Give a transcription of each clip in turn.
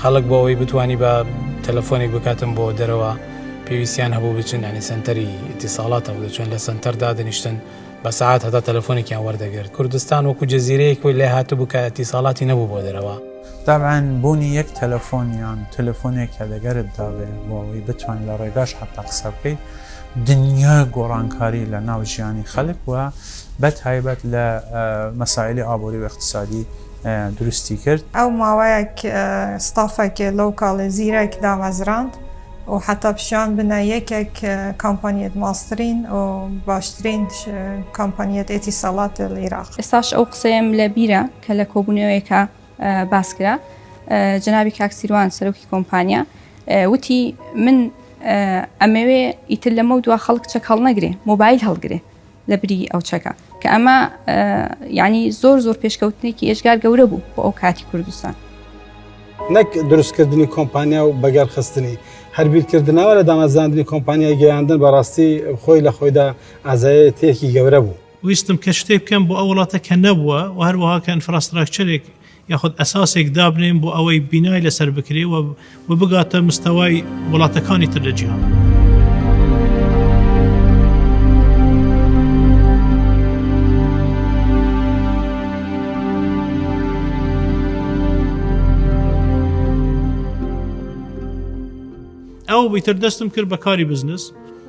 خەڵک بۆ ئەوەی بتانی بە تەلەفۆنێک بکاتم بۆ دەرەوە پێویستیان هەبوو بچن ینی سنتەری ئیتیساڵاتە بوو چۆن لە سنتەر دادنیشتن بە سعات هەتا تەلەفۆنێکیان وەردەگرت کوردستان وەکو جززیرەیە کۆی لە هاتو بکایەتی ساڵاتی نەبوو بۆ دەرەوە. تەبعەن بوونی یەک تەلەفۆن یان تەلەفۆنێک کە لەگەرت دابێت بۆ ئەوەی بتوانیت لە ڕێگاش حەتا قسە بکەیت دنیای گۆڕانکاری لە ناو ژیانی خەلک و بە تایبەت لە مەسایلی ئابووری و ئیقتسادی دروستی کرد. ئەو ماوەیەک ستافەکێ لەو کاڵێ زیرەک دامەزراند و حەتا پیشان بنە یەکێک کامپانیەت ماسترین و باشترین کامپانیەت ئێتیساڵات العراق. ئێستاش ئەو قسەیەم لە بیرە کە لە کۆبوونەوەیەکا باس کرا، جەنابی کاک سیروان سەرۆکی کۆمپانیا وتی من ئەمەوێ ئیتر لەمەو دوا خەڵک چەک هەڵنەگرێ، مۆبایل هەڵگرێ. لە بری ئەو چەکە کە ئەمە یعنی زۆر زۆر پێشکەوتنێکی ئێشگار گەورە بوو بۆ ئەو کاتی کوردستان نەک دروستکردنی کۆمپانیا و بەگەرخستنی هەربیرکردنەوە لە دامەزاندنی کۆمپانیای گەیاندن بەڕاستی خۆی لە خۆیدا ئازایەتێکی گەورە بوو. ویستم کە شتێک بکەم بۆ ئەو وڵاتە کە نەبووە و هەروەها کە ئینفراستراکچەرێک یاخود ئەساسێک دابنێن بۆ ئەوەی بینای لەسەر بکرێ و و بگاتە مستەوای وڵاتەکانی تر لە جیهان. ئەو بیتر دەستم کرد بە کاری بزنس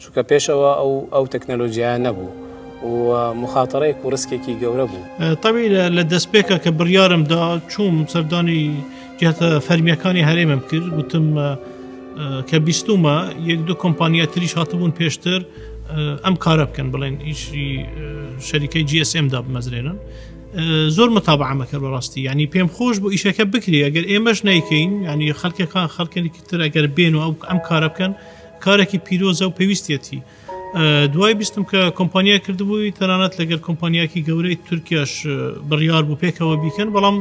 چونکە پێش ئەوە ئەو ئەو تەکنەلۆجیایە نەبوو و مخاتەڕێک و ڕسکێکی گەورە بوو تەوی لە دەستپێکە کە بڕیارم دا چوم سەردانی جاتە فەرمیەکانی هەرێمم کرد گوتم کە بیستمە یەک دو کۆمپانیا تریش هاتبوون پێشتر ئەم کارە بکەن بڵێن ئیشی شەریکەی GSM دا بمەزرێنن زۆر متابعمەکە بەڕاستی ینی پێم خۆش بۆ ئیشەکە بکری ئەگەر ئێمەش نیکەین ینی خەکەکان خەکەێکی تر ئەگەر بێن و ئەم کارە بکەن کارێکی پیرۆزە و پێویستیەتی دوای بیستم کە کۆمپانیای کردبووی تەنانەت لەگەر کۆمپانیاکی گەورەی تورکیاش بڕیار بوو پێکەوە بیکەن بەڵام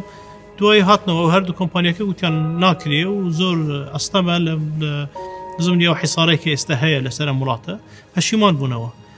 دوای هاتنەوە هەردوو کۆمپانیەکە وتیان ناکرێ و زۆر ئەستەمە لە زمنی ئەو حیسارێکی ئێستا هەیە لەسەر وڵاتە پەشیمان بوونەوە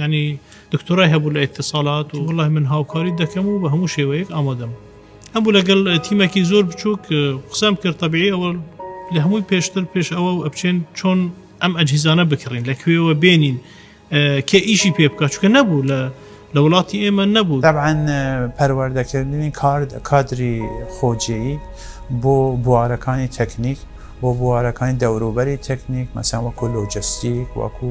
یانی دکتۆرای هەبوو لە ئیتیصالات و وەڵاهی من هاوکاریت دەکەم و بە هەموو شێوەیەک ئامادەم هەبوو لەگەڵ تیمێکی زۆر بچووک قسەم کرد تەبیعی ئەوە لە هەمووی پێشتر پێش ئەوە و ئەبچێن چۆن ئەم ئەجهیزانە بکڕین لە کوێوە بێنین کێ ئیشی پێ بکە چکە نەبوو لە لە وڵاتی ئێمە نەبوو دەبعاان پەروەردەکردنی کارد کادری خۆجێی بۆ بوارەکانی تەکنیک بۆ بوارەکانی دەوروبەری تەکنیک مەسەن وەکو لۆجستیک وەکو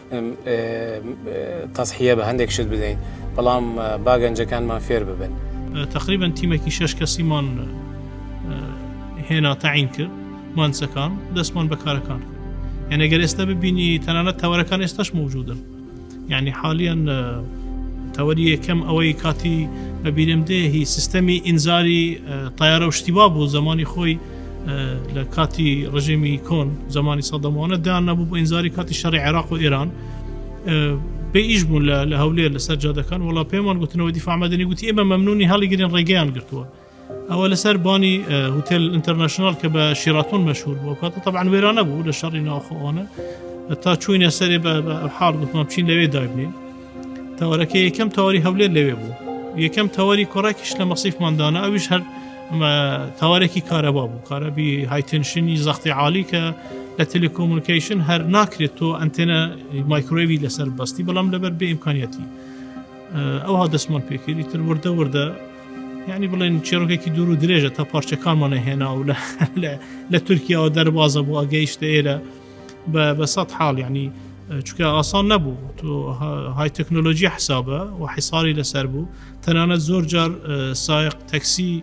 تەزحیە بە هەندێک شت بدەین بەڵام با گەنجەکانمان فێر ببن تقریبن تیمێکی شش کەسیمان هێنا تاعین کرد مانسەکان دەستمان بەکارەکان یعنی گەر ئێستا ببینی تەنانەت تەوەرەکان ئێستاش موجودن یعنی حالیان تەوەری یەکەم ئەوەی کاتی بەبیرم دێ هی سیستەمی ئینزاری تایارە و شتیوا بوو زمانی خۆی لە کاتی ڕژێمی کۆن زمانی سەدەمانە دان نەبوو بۆ ئینزاری کاتی شەڕی عێراق و ئێران بێ ئیش بوون لە هەولێر لەسەر جادەکان وڵا پێمان گوتنەوە دیفامەدەنی گوتی ئێمە مەمنونی هەڵیگرن ڕێگەیان گرتووە ئەوە لەسەر بانی هوتێل ئینتەرنشنال کە بە شیراتون مەشهور بوو کات طبعا وێرانە بوو لە شەڕی ناوخۆوانە تا چوینە سەرێ بە حاڵ گوتمان چین لەوێ دابنین تاوەرەکە یەکەم تاوەری هەولێر لەوێ بوو یەکەم تاوەری کۆڕاکیش لە مەسیفمان دانا ئەویش هەر تاوارێکی کارەبا بوو کارەبی هایتنشنی زەختی عالی کە لە تەلکۆمونیکیشن هەر ناکرێت تۆ ئەتەنە مایکرۆوی لەسەر بەستی بەڵام لەبەر بێ ئیمکانیەتی ئەوها دەستمان پێکردی تر وردە وردە یعنی بڵێن چێڕۆکێکی دوور و درێژە تا پارچەکانمانە هێنا و لە لە تورکیاەوە دەربازە بۆ ئەگەیشتە ئێرە بە سەد حاڵ یعنی چکە ئاسان نەبوو تۆ های تەکنۆلۆژی حسابە و حیساری لەسەر بوو تەنانەت زۆر جار سایق تەکسی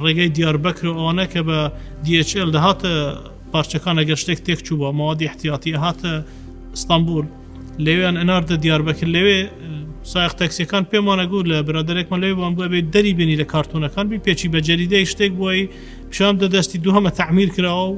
ڕێگەی دیاربەکر و ئەوانە کە بە DHL دەهاتە پارچەکان ئەگەر شتێک تێک چوو بە ماوەدی احتیاتی هاتە ئستانبول لەوێن ئەناردە دیاربەکر لەوێ سایق تەکسیەکان پێمانە گوو لە برادێکمە لێ بۆم بۆ بێت دەری بینی لە کارتونەکان بی پێچی بە جەریدەی شتێک بۆی پیشان دە دەستی دوهمە تعمیر کراوە و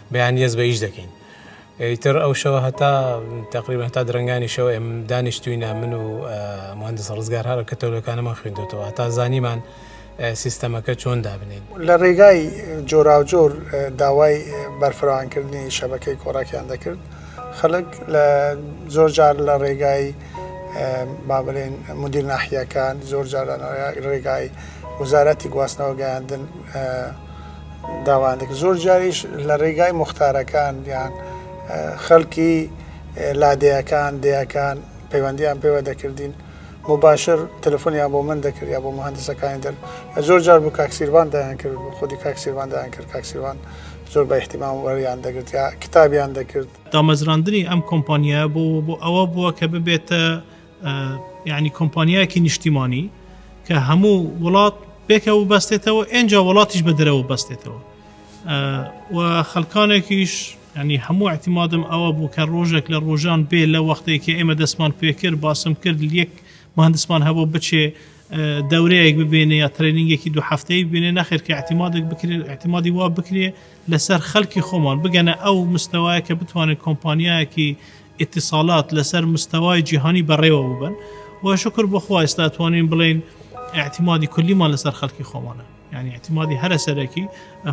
بەیانیەز بە ئیش دەکەین. ئیتر ئەو شەوە هەتا تقریبا هەتا درەنگانی شەوە ئێم دانیشتوینە من و مهندس ڕزگار هەر کە تەولەکانەمان خوێندوتەوە هەتا زانیمان سیستەمەکە چۆن دابنێین. لە ڕێگای جۆراوجۆر داوای بەرفراوانکردنی شەبەکەی کۆڕەکیان دەکرد. خەلک لە زۆر جار لە ڕێگای با بلێن مدیر ناحیەکان، زۆر جار لە ڕێگای وزارەتی گواستنەوە گەیاندن، داوانێک زۆر جاریش لە ڕێگای موختارەکان یان خەلکی لادێیەکان دێیەکان پەیوەندیان پێوە دەکردین مباشر تەلفۆنیان بۆ من دەکرد یا بۆ مهندسەکانی دەر زۆر جار بوو کاکسیربان دایان کرد بۆ خودی کاکسیربان دایان کرد کاکسیربان زۆر بە احتیمام وەریان دەگرت یا کتابیان دەکرد. دامەزراندنی ئەم کۆمپانیایە بۆ بۆ ئەوە بووە کە ببێتە یانی کۆمپانیایەکی نیشتیمانی کە هەموو وڵات پێکە و بەستێتەوە ئەجا وڵاتیش بە دەرەوە بەستێتەوە و خەلکانێکیش ینی هەموو احتیمادم ئەوە بوو کە ڕۆژێک لە ڕۆژان بێ لە وەختێکی ئێمە دەستمان پێکرد باسم کرد یەک مهندسمان هەبوو بچێ دەورەیەک ببێنێ یا ترێنینگێکی دو هەفتەی بینێ نەخێر کە احتیمادێک بکرێت احتیمادی وا بکرێ لەسەر خەلکی خۆمان بگەنە ئەو مستەوایە کە بتوانێت کۆمپانیایەکی ئیتیصالات لەسەر مستەوای جیهانی بەڕێوە ببەن و شوکر بۆ خوا ئێستا توانین بڵێین ئاعتیمادی کولیمان لەسەر خەلکی خۆمانە یعنی ئاعتیمادی هەرە سەرەکی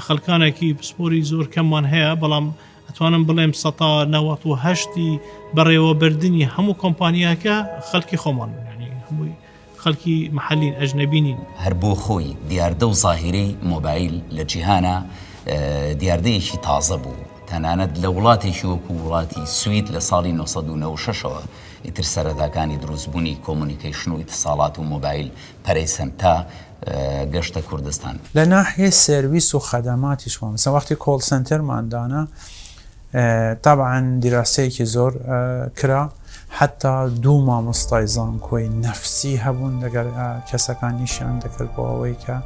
خەلکانێکی پسپۆری زۆر کەممان هەیە بەڵام ئەتوانم بڵێم سەتا نەوەت و هەشتی بەڕێوەبردنی هەموو کۆمپانیاکە خەلکی خۆمان یعنی هەمووی خەلکی محەلین ئەجنەبی نین. هەر بۆ خۆی دیاردە و زاهیرەی مۆبایل لە جیهانا دیاردەیەکی تازە بوو، تەنانەت لە وڵاتێکی وەکوو وڵاتی سوید لە ساڵی نۆ سەد و نەوەد و شەش ەوە ئیتر سەرەتاکانی دروستبوونی کۆمۆنیکەیشن و ئیتساڵات و مۆبایل پەرەیسەند تا گەشتە کوردستان. لە ناحیەی سێرویس و خەدەماتیشەوە مەسەلەن وەختی کۆڵ سەنتەرمان دانا تەبعەن دیراسەیەکی زۆر کرا حەتا دوو مامۆستای زانکۆی نەفسی هەبوون لەگەر کەسەکانیشیان دەکرد بۆ ئەوەی کە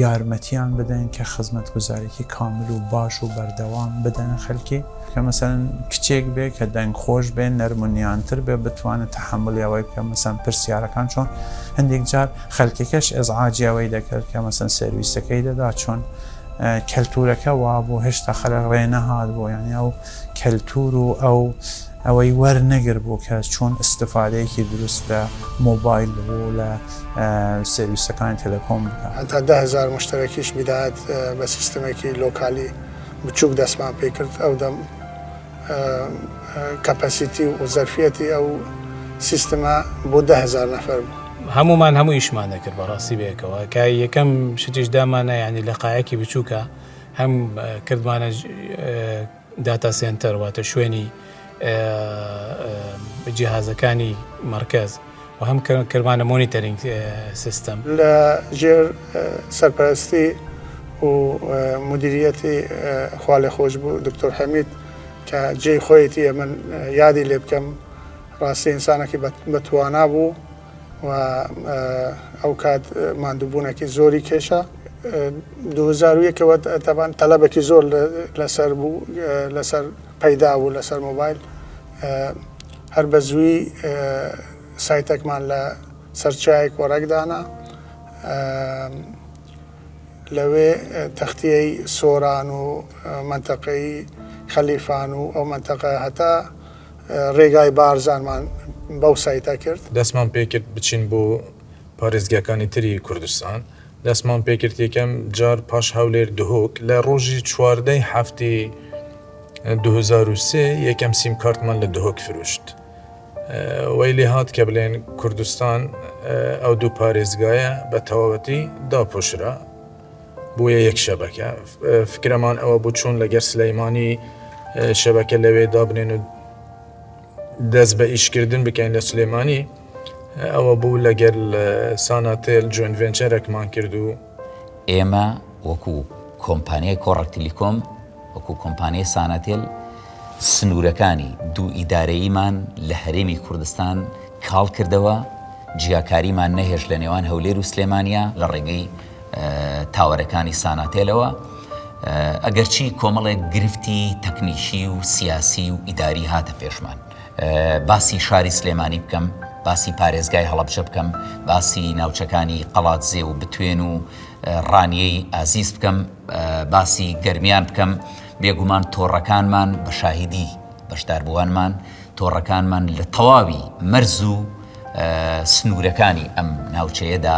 یارمەتیان بدەن کە خزمەت گوزارێکی کامل و باش و بەردەوام بدەن خەلکی کە مەسەن کچێک بێ کە دەنگ خۆش بێ نەرمونیانتر بێ بتوانێت تحملیاوەی بکە مەسەن پرسیارەکان چۆن هەندێک جار خەلکەکەش ئەزعاجیاوەی دەکرد کە مەسەن سرویسەکەی دەدا چۆن کەلتورەکە وابوو هێشتا خەلک ڕێ نەهات بۆ یانی ئەو کەلتور و ئەو ئەوەی وەر نەگر بوو کە چۆن استفادەیەکی دروست لە مۆبایل بوو لە سێویسەکانی تەلەکۆم بکا. هەتا دە هەزار مشتەرەکیش بیدایەت بە سیستمێکی لۆکالی بچوک دەستمان پێ کرد ئەو دەم. کەپەسیتی و زەرفیەتی ئەو سیستمە بۆ دە هزار نەفەر بوو. هەمومان هەموو ئیشمان دەکرد بەڕاستی بەیەکەوە کە یەکەم شتیش دامانە ینی لە قایەکی بچووکە هەم کردمانە داتا سنتەر واتە شوێنی جیهازەکانی مرکز و هەم کردمانە مۆنیتەرینگ سیستم لە ژێر سەرپەرستی و مدیریەتی خوالێ خۆش بوو دکتۆر حەمید کە جێی خۆیەتی ئە من یادی لێ بکەم ڕاستی ئینسانەکی بەتوانا بوو و ئەو کات مادووبوونەکی زۆری کێشە 2001ەوە تابان تەلبێکی زۆر لەسەر بوو لەسەر پەیدا بوو لەسەر مۆبایل هەر بە زووی سایتەکمان لە سەرچاوی کۆرەک دانا لەوێ تەختیەی سۆران و منتەقەی خەلیفان و ئەو منتەقە هەتا ڕێگای بارزانمان بەو سایتە کرد. دەستمان پێکرد بچین بۆ پارێزگاکانی تری کوردستان دەستمان پێکرد یەکەم جار پاش هەولێر دهۆک لە ڕۆژی چواردەی هەفتی دو هەزار و سێ یەکەم سیم کارتمان لە دهۆک فرۆشت وەی لێ هات کە بلێن کوردستان ئەو دوو پارێزگایە بە تەواوەتی داپۆشرا بۆیە یەک شەبەکە فکرەمان ئەوە بوو چۆن لەگەر سلەیمانی شەبەکە لەوێ دابنێن و دەست بە ئیشکردن بکەین لە سلێمانی ئەوە بوو لەگەل ساناتێل جوێن ڤێنچەرەکمان کرد و ئێمە وەکو کۆمپانیای کۆڕەک تلیکۆم وەکو کۆمپانیای ساناتێل سنوورەکانی دوو ئیدارەییمان لە هەرێمی کوردستان کاڵ کردەوە جیاکاریمان نەهێشت لە نێوان هەولێر و سلێمانیا لە ڕێگەی تاوەرەکانی ساناتێلەوە، ئەگەرچی کۆمەڵێک گرفتی تەکنیکی و سیاسی و ئیداری هاتە پێشمان. باسی شاری سلێمانی بکەم، باسی پارێزگای هەڵەبجە بکەم، باسی ناوچەکانی قەڵادزێ و بتوێن و ڕانیەی ئازیز بکەم، باسی گەرمیان بکەم، بێگومان تۆڕەکانمان بە شاهیدی بەشداربووانمان، تۆڕەکانمان لە تەواوی مەرز و سنوورەکانی ئەم ناوچەیەدا،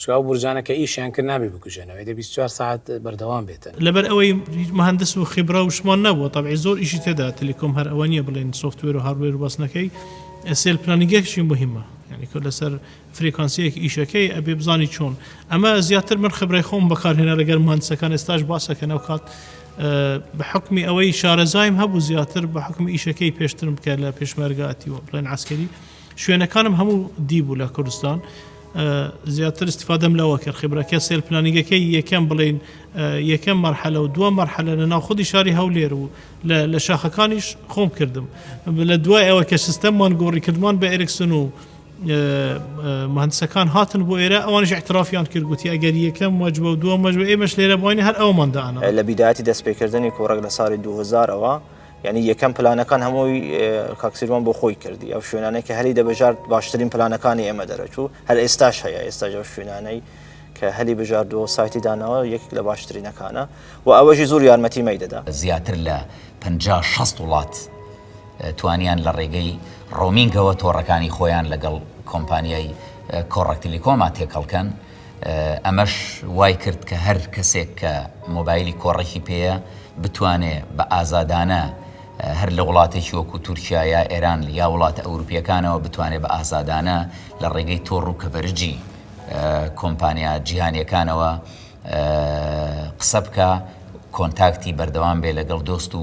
چونکە ئەو بورجانە کە ئیشیان کرد نابێ بکوژێنەوە ئێدە بیست چوار سەعات بەردەوام بێتن. لەبەر ئەوەی هیچ مهندس و خبرە و شتمان نەبووە تەبعی زۆر ئیشی تێدا تلیکۆم هەر ئەوە نیە بڵێن سۆفتوێر و هاردوێر و بەس نەکەی سێل پلانیگێکشی موهیمە یانی کە لەسەر فریکانسیەک ئیشەکەی ئەبێ بزانی چۆن ئەمە زیاتر من خبرەی خۆم بەکارهێنا لەگەر مهندسەکان ئێستاش باسەکەن ئەو کات بە حکمی ئەوەی شارەزایم هەبوو زیاتر بە حکم ئیشەکەی پێشترم بکە لە پێشمەرگاتی و بڵێن عسکەری شوێنەکانم هەموو دی بوو لە کوردستان زیاتر استفادەم لەوە کرد خبرەکە سێل پلانیگەکەی یەکەم بڵین یەکەم مەرحەلە و دووە مەرحەلە لە ناو خودی شاری هەولێر و لە شاخەکانیش خۆم کردم لە دوای ئەوە کە سیستەممان گۆڕی کردمان بە ئەرکسن و مهندسەکان هاتن بۆ ئێرە ئەوانش اعترافیان کردگوتی ئەگەر یەکەم مەجبە و دووە مەجبە ئێمەش لێرە بووین هەر ئەومانداانە لە بیداتی دەستپێکردنی کۆڕێک لە ساڵی 2000ەوە یانی یەکەم پلانەکان هەمووی کاک سیروان بۆ خۆی کردی ئەو شوێنانەی کە هەلی دەبژارد باشترین پلانەکانی ئێمە دەرەچوو هەر ئێستاش هەیە ئێستاژە شوێنانەی کە هەلی بژاردووە سایتی داناوە یەکێک لە باشترینەکانە و ئەوەژی زۆر یارمەتی مەی دەدا زیاتر لە 500 وڵات توانیان لە ڕێگەی ڕۆمینگەوە تۆڕەکانی خۆیان لەگەڵ کۆمپانیای کۆڕەکتلیکۆما تێکەڵکەن ئەمەش وای کرد کە هەر کەسێک کە مۆبایلی کۆڕەکی پێیە بتوانێ بە ئازادانە هەر لە وڵاتێکی وەکو تورکیا یا ئێران یا وڵاتە ئەوروپیەکانەوە بتوانێت بە ئازادانە لە ڕێگەی تۆڕ و کەڤەرجی کۆمپانیا جیهانیەکانەوە قسە بکە کۆنتاکتی بەردەوام بێ لەگەڵ دۆست و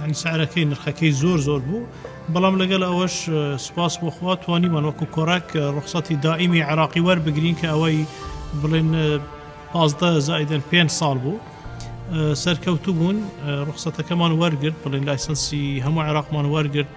یانی سعرەکەی نرخەکەی زۆر زۆر بوو بەڵام لەگەل ئەوەش سوپاس بۆ خوا توانیمان وەکو کۆرەک ڕوخسەتی دائیمی عێراقی وەربگرین کە ئەوەی بڵێن پازدە زائیدەن پێنج ساڵ بوو سەرکەوتوو بوون ڕوخسەتەکەمان وەرگرت بڵێن لایسەنسی هەموو عێراقمان وەرگرت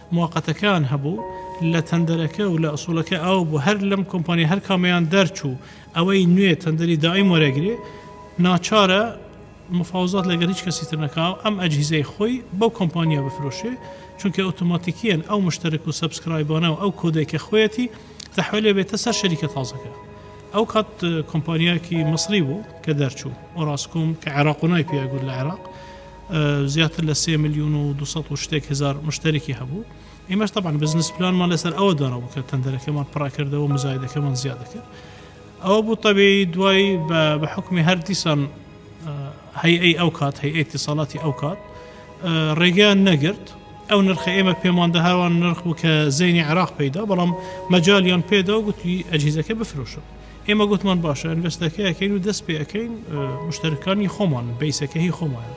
موقتەکان هەبوو لە تەندەرەکە و لە ئسوڵەکە ئاو بوو هەر لەم کۆمپانیا هەر کامەیان دەرچوو ئەوەی نوێ تەندەری دائیم وەرەگرێ ناچارە مفاوزات لەگەل هیچ کەسی تر نەکا و ئەم ئەجهیزەی خۆی بەو کۆمپانیا بفرۆشێ چونکە ئۆتۆماتیکیەن ئەو مشتەرک و سەبسکرایبانە و ئەو کۆدەی کە خۆیەتی تەحوێل ئەبێتە سەر شەریکە تازەکە ئەو کات کۆمپانیاکی مصری بوو کە دەرچوو ئۆراسکۆم کە عێراق و نای پێ گوت لە عێراق زیاتر لە سێ ملیون و دوو سەد و شتێک هەزار مشتەرکی هەبوو ئێمەش تەبان بزنس پلانمان لەسەر ئەوە دانەوە کە تەندەرەکەمان پڕاکردەوە مزایدەکەمان زیادەکرد ئەوە بوو تەبی دوای بە حکومی هەر دیسان هەیئەی ئەو کات هەیئ تیسەڵاتی ئەو کات ڕێگەیان نەگرت ئەو نرخە ئێمە پێماندە هاوان نرخ بوو کە زەینی عراق پیدا بەڵام مەجاالیان پێدا و گوتی ئەجیزەکە بفرۆشن ئێمە گۆتمان باشە ئەنڤێستەکە ئەکەین و دەست پێ ئەکەین مشتەرکانی خۆمان بەیسەکە هی خۆمان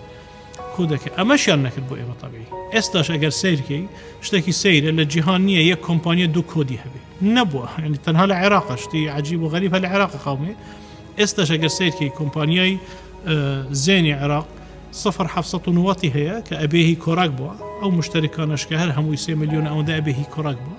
کو دەکە ئەمەشیان نەکرد بۆ ئێمە تەبی ئێستاش ئەگەر سیرکەی شتێکی سەیرە لە جیهان نییە یەک کۆمپانیا دوو کۆدی هەبێ نەبووە ینی تەنها لە عێراق شتی عجیب و غەریب هە لە عێراق قاومێ ئێستاش ئەگەر سیرکەی کۆمپانیای زێنی عێراق 1990 هەیە کە ئەبێهی کۆراک بووە ئەو مشتەرکانەشکە هەر هەمووی سێ میلیۆن ئەوەندە ئەبێهی کۆراک بووە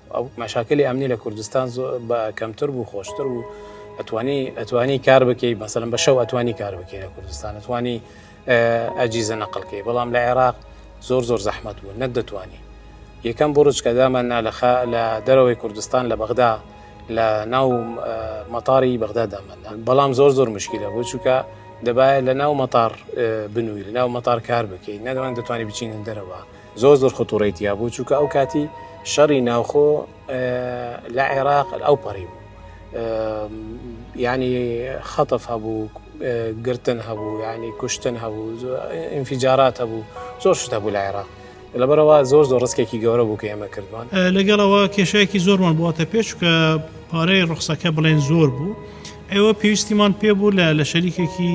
مەشاکلی ئەمنی لە کوردستان بە کەمتر بوو خۆشتر بوو ئەتوانی ئەتوانی کار بکەیت مەسەن بە شەو ئەتوانی کار بکەی لە کوردستان ئەتوانی ئەجیزە نەقلکەی بەڵام لە عێراق زۆر زۆر زەحمت بوو نەک دەتوانی یەکەم بڕچ کە دامان نالەخە لە دەرەوەی کوردستان لە بەغدا لە ناو مەتاری بەغدا دامەنا بەڵام زۆر زۆر مشکلە بۆ چووکە دەبایە لە ناو مەتار بنووی لە ناو مەتار کار بکەیت نەدەوان دەتوانانی بچینە دەرەوە زۆر زۆر خطوڕەی تیابوو چونکە ئەو کاتی شەڕی ناوخۆ لە عێراق ئەو پەڕی بوو ینی خەتف هەبوو گرتن هەبوو ینی کوشتن هەبوو ئینفیجارات هەبوو زۆر شتە بوو لە عێراق لەبەرەوە زۆر زۆر ڕستێکی گەورە بوو کە ئێمە کردوان لەگەڵەوە کێشایکی زۆرمان بواتە پێشکە پارەی ڕخسەکە بڵێن زۆر بوو ئێوە پێویستیمان پێ بوو لە لە شەریکێکی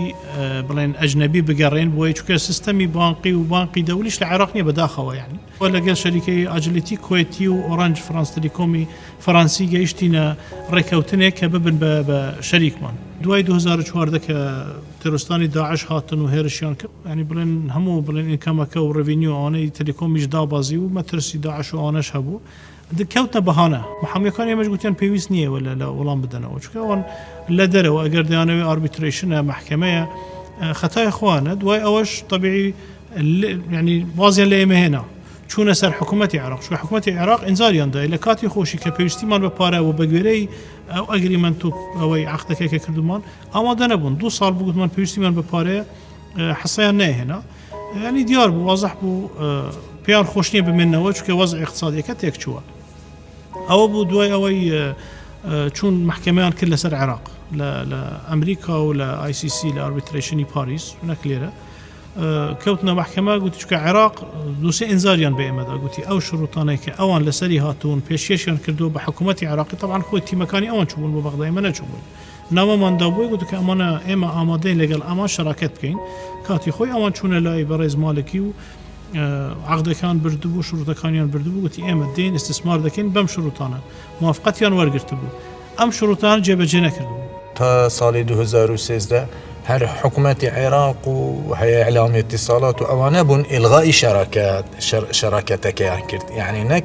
بڵێن ئەجنەبی بگەڕێن بۆی چکە سیستەمی بانقی و بانقی دەولیش لە عێراق نیە بەداخەوە یعنی وە لەگەل شەریکەی ئاجلیتی کوێتی و ئۆرانج فرانس تلیکۆمی فەرانسی گەیشتینە ڕێکەوتنێک کە ببن بە بە شەریکمان دوای 2014 کە ترستانی داعش هاتن و هێرشیان کرد ینی بڵێن هەموو بڵێن ئینکەمەکە و ڕڤینیو ئەوانەی تلیکۆمیش دابازی و مەترسی داعش و ئەوانەش هەبوو کەوتنە بەهانە محامیەکان ئێمەش گوتیان پێویست نییە ولا لە وەڵام بدەنەوە چکە ئەوان لە دەرەوە ئەگەر دەیانەوەی ئاربیتریشنە محکمەیە خەتای خوانە دوای ئەوەش طبیعی ینی وازیان لە ئێمە هێنا چوونە سەر حکوومەتتی عراق شو حکوومەتتی عێراق ئنجاریاندا لە کاتی خۆشی کە پێویستیمان بە پارەوە بەگوێرەی ئەو ئەگریمنت و ئەوەی عختەکەکە کردومان ئامادە نەبوون دو سال بگوتمان پێویستیمان بە پارەیە حەسەیان نەهێنا یانی دیار بوو وازح بوو پێیان خۆش نییە بمێنەوە چکە وەز اقتصادیەکە تێک چووە ئەوە بوو دوای ئەوەی چون محکەمیان کرد لەسەر عێراق لە ئەمریکا و لە ICC لە ئاربیتریشنی پاریس نەکلێرە کەوتنە محکەمە گوتی چکە عێراق دوسێ ئەنزاریان بە ئێمەدا گوتی ئەو شروتانەی کە ئەوان لەسەری هاتوون پێشێشیان کردو بە حکوومەتتی عراقی تەوان خۆی تیمەکانی ئەوان چوون بۆ بەغدای منە چوون نامەماندا بۆی گوتن کە ئەمانە ئێمە ئامادەین لەگەڵ ئەوان شەراکەت بکەین، کاتی خۆی ئەوان چوونە لای بەڕێز مالکی و عەقدەکان بردبوو، شرووتەکانیان بردبوو، گوتی ئێمە دێین ئیستسمار دەکەین بەم شرووتانە، موافقەتیان وەرگرتبوو، ئەم شرووتانە جێبەجێ نەکردبوو. تا ساڵی دوو هەزار و سێزدە هەر حکومەتی عێراق و هەیئە ئیعلامی ئیتیصالات و ئەوانە بوون ئیلغائی شەراکەت، شەراکەتەکەیان کرد، یەعنی نەک.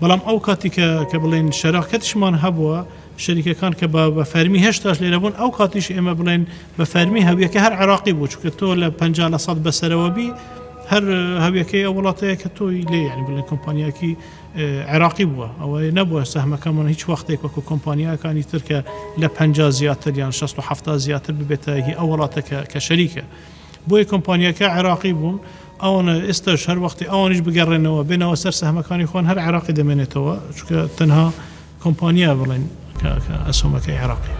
بەڵام ئەو کاتی کە کە بڵێین شەراکەتشمان هەبووە، شەریکەکان کە بە بە فەرمی هێشتاش لێرە بوون، ئەو کاتیش ئێمە بڵێین بە فەرمی هەویەکە هەر عێراقی بوو، چونکە تۆ لە پەنجا لە سەد بەسەرەوە بی، هەر هەویەکەی ئەو وڵاتەیە کە تۆی لێ یانی بڵێ کۆمپانیایەکی عێراقی بووە، ئەوە نەبووە سەهمەکەمان هیچ وەختێک وەکوو کۆمپانیاکانی تر کە لە پەنجا زیاتر یان شەست و حەفتا زیاتر ببێتە هی ئەو وڵاتە کە کە شەریکە. بۆیە کۆمپانیاکە عێراقی بوون ئەوانە ئێستاش هەر وەختی ئەوانیش بگەڕێنەوە بێنەوە سەر سەهمەکانی خۆن هەر عێراقی دەمێنێتەوە چونکە تەنها کۆمپانیا بڵێن کە ئەسۆمەکەی عێراقی.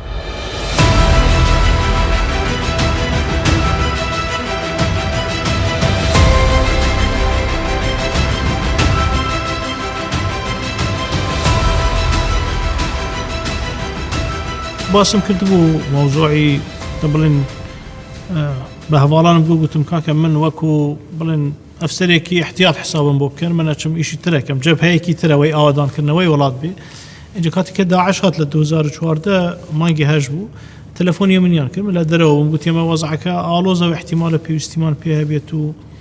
باسم کردبوو مەوزوعی دە بڵێن بە هەواڵانم گو گوتم کاکە من وەکو بڵێن ئەفسەرێکی احتیاط حسابم بۆ بکەن منە چم ئیشی ترەکەم جەبهەیەکی ترەوەی ئاوادانکردنەوەی وڵات بێ اینجا کاتی کە داعش هات لە 2014 مانگی هەش بوو تەلەفۆنی منیان کرد لە دەرەوە گوتێمە وەزعەکە ئالۆزە و احتیمالە پێویستیمان پێ هەبێت و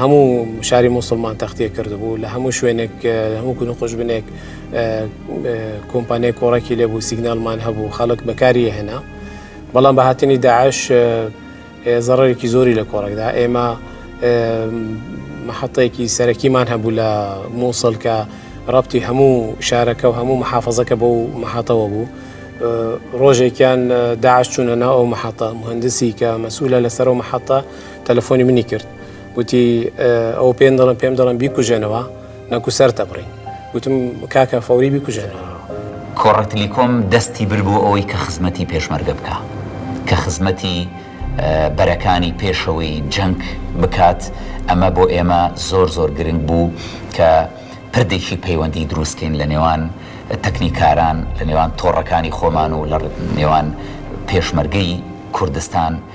هەموو شاری موسڵمان تەختێ کردبوو لە هەموو شوێنێک هەموو کون و قژ بنێک کۆمپانیای کۆڕێکی لێبوو سیگنالمان هەبوو خەڵک بەکاری هێنا بەڵام بە هاتنی داعش زەڕێکی زۆری لە کۆڕێکدا ئێمە مححەتەیەکی سەرەکیمان هەبوو لە مووسڵ کە ڕپتی هەموو شارەکە و هەموو محافظەکە بۆ و مححەتەوە بوو ڕۆژێکیان داعش چوونە ناو ئەو مححەتە مهندسی کە مەسوولە لەسەر و مححەتە تەلەفۆنی منی کرد وتی ئەو پێ دەڵم پێم دەڵم بیکوژێنەوە نەکو سەر دەبڕین وتم کاکە فەوری بیکوژێنەوە کۆڕەتلیکۆم دەستی بر بۆ ئەوەی کە خزمەتی پێشمەرگە بکە کە خزمەتی بەرەکانی پێشەوەی جەنگ بکات ئەمە بۆ ئێمە زۆر زۆر گرنگ بوو کە پردێکی پەیوەندی دروستکەین لە نێوان تەکنیکاران لە نێوان تۆڕەکانی خۆمان و لە نێوان پێشمەرگەی کوردستان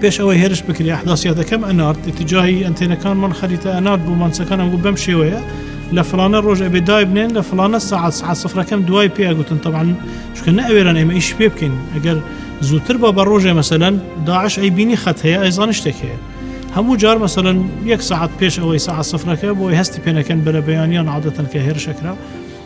پێش ئەوەی هێرش بکرێ ئەحداسیاتەکەم ئەنارد اتجاهی ئەنتێنەکانمان خەریتە ئەنارد بۆ مانچەکانم گو بەم شێوەیە لە فلانە ڕۆژ ئەبێ دایبنێن لە فلانە سعات سعات سفرەکەم دوای پێ ئەگوتن تەبان چکە نە ئەوێران ئێمە ئیش پێ بکەین ئەگەر زووتر بە بە ڕۆژێ مەسەەن داعش ئەی بینی خەت هەیە ئەیزان شتێک هەیە هەموو جار مەسەەن یەک سعات پێش ئەوەی سعات سفرەکە بۆی هەستی پێنەکەن بەرە بەیانیان عادەتەن کە هێرشەکرا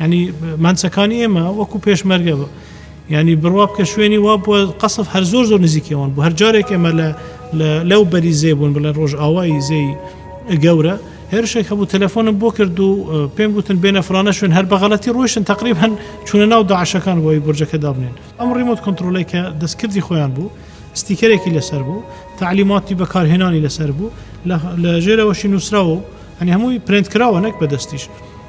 یانی مانچەکانی ئێمە وەکو پێشمەرگە بە یانی بڕوا بکە شوێنی وا بووە قەسف هەر زۆر زۆر نزیکەوەن بوو هەر جارێک ئێمە لە لەو بەری زێ بوون بڵێ ڕۆژ ئاوایی زێی گەورە هێرشێک هەبوو تەلەفۆنم بۆ کرد و پێم گوتن بێنە فرانە شوێن هەر بەغەڵەتی ڕۆشتن تقریب هەن چونە ناو داعشەکان بۆی برجەکە دابنێن ئەم ڕیمۆت کنترۆلی کە دەستکردی خۆیان بوو ستیکەرێکی لەسەر بوو تعلیماتی بەکارهێنانی لەسەر بوو لە ژێرەوەشی نووسراوە ئەنی هەمووی پرنت کراوە نەک بەدەستیش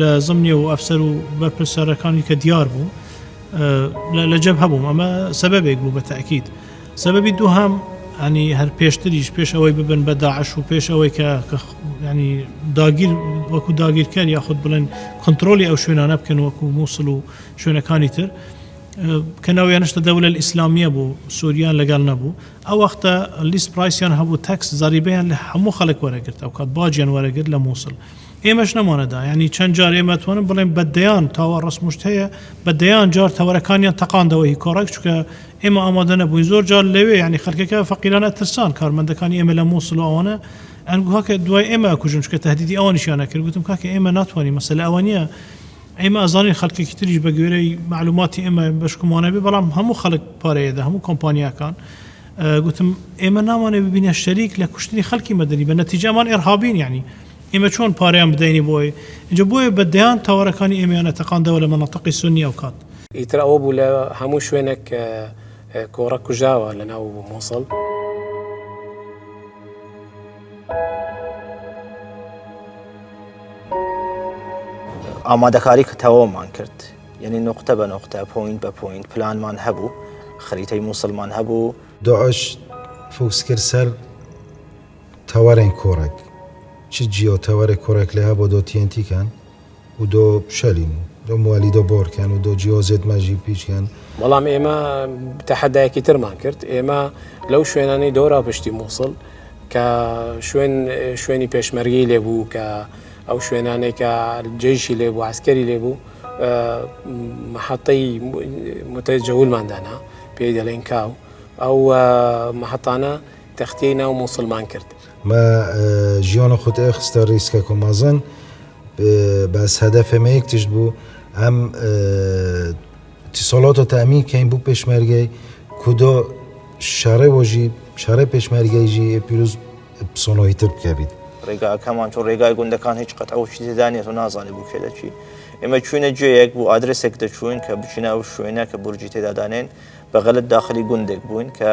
لە زمنی و ئەفسەر و بەرپرسەرەکانی کە دیار بوو لە جەب هەبووم ئەمە سەبەبێک بوو بە تاکیید سەبەبی دووهام ینی هەر پێشتریش پێش ئەوەی ببن بە داعش و پێش ئەوەی کە ینی داگیر وەکو داگیرکەر یاخود بڵێن کنترۆلی ئەو شوێنانە بکەن وەکو مووسڵ و شوێنەکانی تر کە ناویانشتە دەولە ئیسلامیە بوو سووریان لەگەڵ نەبوو ئەو وەختە لیست پرایسیان هەبوو تەکس زەریبیان لە هەموو خەڵک وەرەگرت ئەو کات باجیان وەرەگرت لە مووسڵ ئێمەش نەمانەدا یانی چەند جار ئێمە توانم بڵێم بە دەیان تاوە ڕەسموشت هەیە بە دەیان جار تەوەرەکانیان تەقاندەوە هی کۆڕەک چونکە ئێمە ئامادە نەبووین زۆر جار لەوێ یانی خەلکەکە فەقیران ئەترسان کارمەندەکانی ئێمە لە موسڵ و ئەوانە ئەنگۆ کاکە دوای ئێمە ئەکوژن چونکە تەهدیدی ئەوانیشیان ئەکرد گوتم کاکە ئێمە ناتوانین مەسەلە ئەوە نییە ئێمە ئەزانین خەلکێکی تریش بە گوێرەی مەعلوماتی ئێمە بەشکمان هەبێ بەڵام هەموو خەلک پارەی ئەدا هەموو کۆمپانیاکان گوتم ئێمە نامانەوێ ببینە شەریک لە کوشتنی خەلکی مەدەنی بە نەتیجە ئەمان ئێرهابین یانی ئێمە چۆن پارەیان بدەینی بۆی؟ ئینجا بۆیە بە دەیان تاوەرەکانی ئێمەیان ئەتەقاندەوە لە مەنەتقی سونی ئەو کات. ئیتر ئەوە بوو لە هەموو شوێنێک کۆڕە کوژاوە لە ناو موسڵ. ئامادەکاری تەواومان کرد یعنی نوقتە بە نوقتە پۆینت بە پۆینت پلانمان هەبوو خەریتەی موسڵمان هەبوو. داعش فوکس کرد سەر. تەوەرێن کووڕێک چ جیۆ تەوەرێ کووڕێک لێ هەبۆ دۆ تی ئێن تی کەن و دۆ شەلین دۆ موالی دۆ بۆر کەن و دۆ جیۆ زێد مە ژی پیچ کەن. بەڵام ئێمە تەحەدایەکی ترمان کرد، ئێمە لەو شوێنانەی دۆرا پشتی مووسڵ کە شوێن شوێنی پێشمەرگەی لێ بوو کە ئەو شوێنانەی کە جەیشی لێ بوو عسکەری لێ بوو محەتەی متەجەولمان دانا پێی دەڵێن کاو ئەو محەتانە تەختەی ناو موسڵمان کرد. مە ژیۆنە خوت ئێ خستە ریسکە کۆ مەزن بەس هەدەفێ مە یەک تشت بوو ئەم تیسۆڵۆتۆ تەمین کەین بوو پێشمەرگەی کودۆ شەڕێ وەژی شەڕێ پێشمەرگەیژی پیروز پسۆنەوەی تر بکەبیت ڕێگاکەمان چۆن ڕێگای گوندەکان هیچ قەت ئەو شیزدانێت و نازانێ بوو کێ دەچی ئێمە چوینە جێیەک بوو ئادرسێک دەچوین کە بچینە ئەو شوێنە کە بورجی تێدادانێن بە غەلت داخلی گوندێک بووین کە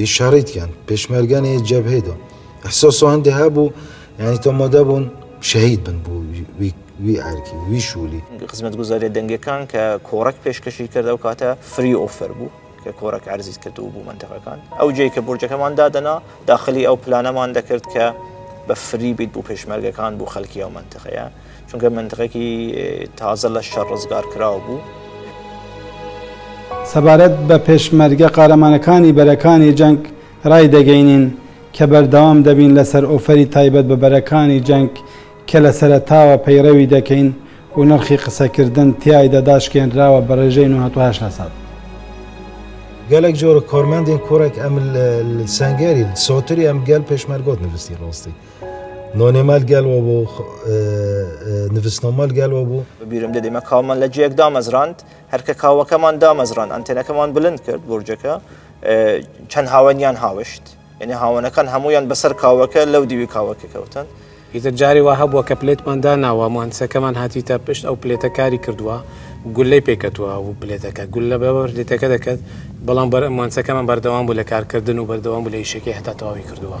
یە شەڕیت کەن پێشمەرگە نیە جەبهەی دۆ ئەحسۆسۆ هەندێ هەبوو یانی تۆ مۆدە بوون شەهید بن بوو وی ئارکی وی شوولی خزمەت گوزاریە دەنگەکان کە کۆڕک پێشکەشی کردە و کاتە فری ئۆفەر بوو کە کۆڕک عرزیت کرد و بوو منتەقەکان ئەو جێ کە بورجەکەمان دادەنا داخلی ئەو پلانەمان دەکرد کە بە فری بیت بوو پێشمەرگەکان بوو خەلکی ئەو منتەقەیە چونکە منتقێکی تازە لە شەڕ ڕزگار کراو بوو. سەبارەت بە پێشمەرگە قارەمانەکانی بەرەکانی جەنگ ڕای دەگەینین کە بەردەوام دەبین لەسەر ئۆفەری تایبەت بە بەرەکانی جەنگ کە لە سەرەتاوە پەیڕەوی دەکەین و نرخی قسەکردن تیایدا داشکێنراوە بە ڕێژەی نۆ هەتا هەشت لەسەد. گەلەک جۆرە کارمەندین کورەک ئەم سەنگەری سۆتری ئەم گەل پێشمەرگۆت نڤستی ڕاستی. نۆنێ مال گەل وە بۆ نڤسنۆ مال گەل وە بوو. بەبیرم دێ دێمە کاومان لە جێیەک دامەزراند، هەر کە کاوەکەمان دامەزراند ئەنتێنەکەمان بلند کرد بورجەکە چەند هاوەنیان هاوشت یعنی هاوەنەکان هەموویان بەسەر کاوەکە لەو دیوی کاوەکە کەوتن. ئیتر جارێ وا هەبووە کە پلێتمان داناوە موهەندسەکەمان هاتیتە پشت ئەو پلێتە کاری کردووە گوللەی پێ کەتووە و پلێتەکە گوللە بە پلێتەکە دەکەت بەڵام موهەندسەکەمان بەردەوام بوو لە کارکردن و بەردەوام بوو لە ئیشەکەی هەتا تەواوی کردووە.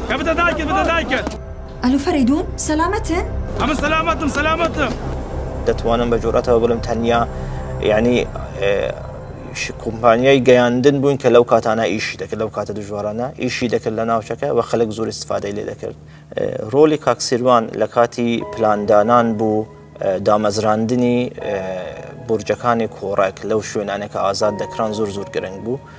کە بدە دایکت بدە دایکت. ئەلو فەرەیدون سەلامەتن؟ ئەمن سەلامەتم سەلامەتم. دەتوانم بە جورئەتەوە بڵێم تەنیا یانی کومپانیای گەیاندن بووین کە لەو کاتانە ئیشی دەکرد لەو کاتە دژوارانە ئیشی دەکرد لە ناوچەکە و خەلک زۆر استفادەی لێ دەکرد ڕۆلی کاک سیروان لە کاتی پلاندانان بوو دامەزراندنی بورجەکانی کۆڕەک لەو شوێنانێکە ئازاد دەکران زۆر زۆر گرنگ بوو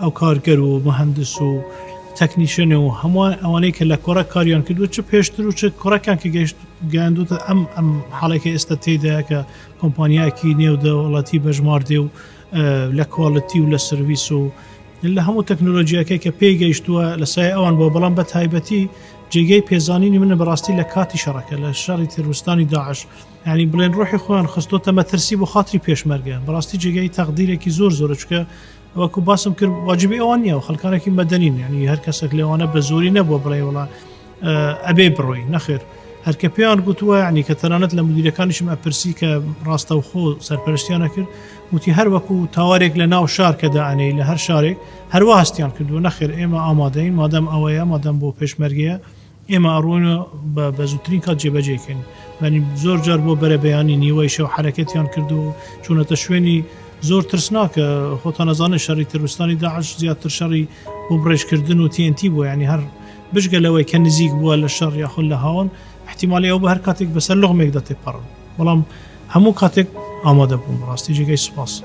ئەو کارگەر و مهندس و تەکنیشن و هەمووان ئەوانەی کە لە کۆڕە کاریان کردو چ پێشتر و چ کوڕەکان کە گەشت گەیاندوتە ئەم ئەم حاڵێکی ئێستا تێدا کە کۆمپانیایەکی نێو دەوڵەتی بەژمار دێ و لە کواڵەتی و لە سرویس و لە هەموو تەکنۆلۆژیەکەی کە پێی گەیشتووە لە سای ئەوان بۆ بەڵام بە تایبەتی جێگەی پێزانینی منە بەڕاستی لە کاتی شەڕەکە لە شەڕی تروستانی داعش ینی بڵێن ڕۆحی خۆیان خستۆتە مەترسی بۆ خااتری پێشمەرگە بەڕاستی جێگەی تەقدیرێکی زۆر زۆرچکە وەکو باسم کرد واجبی ئەوان نیە و خەلکانێکی مەدەنین یعنی هەر کەسێک لێوانە بە زۆری نەبووە بڵێ وڵا ئەبێ بڕۆی نەخێر هەرکە پێیان گوتووە ینی کە تەنانەت لە مدیرەکانیشم ئەپرسی کە ڕاستەوخۆ سەرپەرشتیانە کرد وتی هەر وەکو تاوارێک لە ناو شار کە داانەی لە هەر شارێک هەروە هەستیان کردو نەخێر ئێمە ئامادەین مادەم ئەوەیە مادەم بۆ پێشمەرگەیە ئێمە ئەڕۆین و بە بەزووترین کات جێبەجێی کەین. یانی زۆر جار بۆ بەرەبەیانی نیوەی شەو حەرەکەتیان کرد و چوونەتە شوێنی زۆر ترسناک، خۆتان ئەزانن شەڕی تروستانی داعش زیاتر شەڕی بۆ بڕێژکردن و TNT بووە، یانی هەر بجگە لەوەی کە نزیک بووە لە شەڕ یاخود لە هاوەن، ئیحتیمالی ئەوە بوو هەر کاتێک بەسەر لوغمێکدا تێپەڕن. بەڵام هەموو کاتێک ئامادە بوون بەڕاستی جێگەی سوپاسە.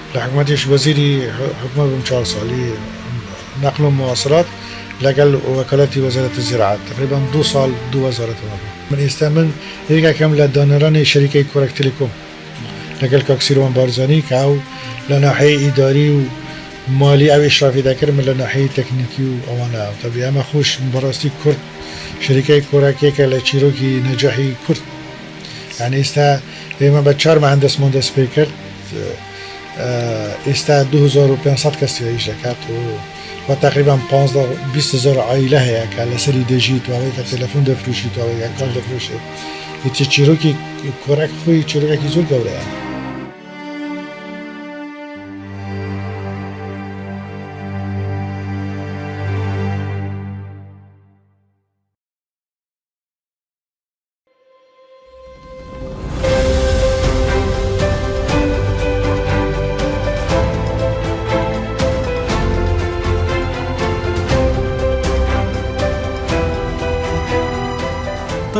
لە حکومەتیش وەزیری حکومەت بووم چوار ساڵ ی نەقل و مواصلات لەگەل وەکالەتی وەزارەتی زیراعەت تەقریبەن دوو ساڵ دوو وەزارەت وە بوو. من ئێستا من یەکێکم لە دانەرانی شەریکەی کۆرەک تیلیکۆم لەگەل کاک سیروان بارزانی کە ئەو لە ناحیەی ئیداری و مالی ئەو ئیشرافی دەکرد من لە ناحیەی تەکنیکی و ئەوانە تەبی ئەمە خوش بەراستی کورد شەریکەی کۆرەک یەکە لە چیرۆکی نەجاحی کورد یانی ئیستا ئێمە بە چوار مەهەن دەستمۆن دەست پێ کرد ئیستا 2500 کەس تێیش دەکات و و تقریبا 15 عیلە هەیە کە لەسەری دەژی توانێت کە تەلەفۆن دەفروشی توانێت کار دەفروشێت هیچی چیرۆکی کۆرەک خۆی چیرۆکی زۆر گەورەیە.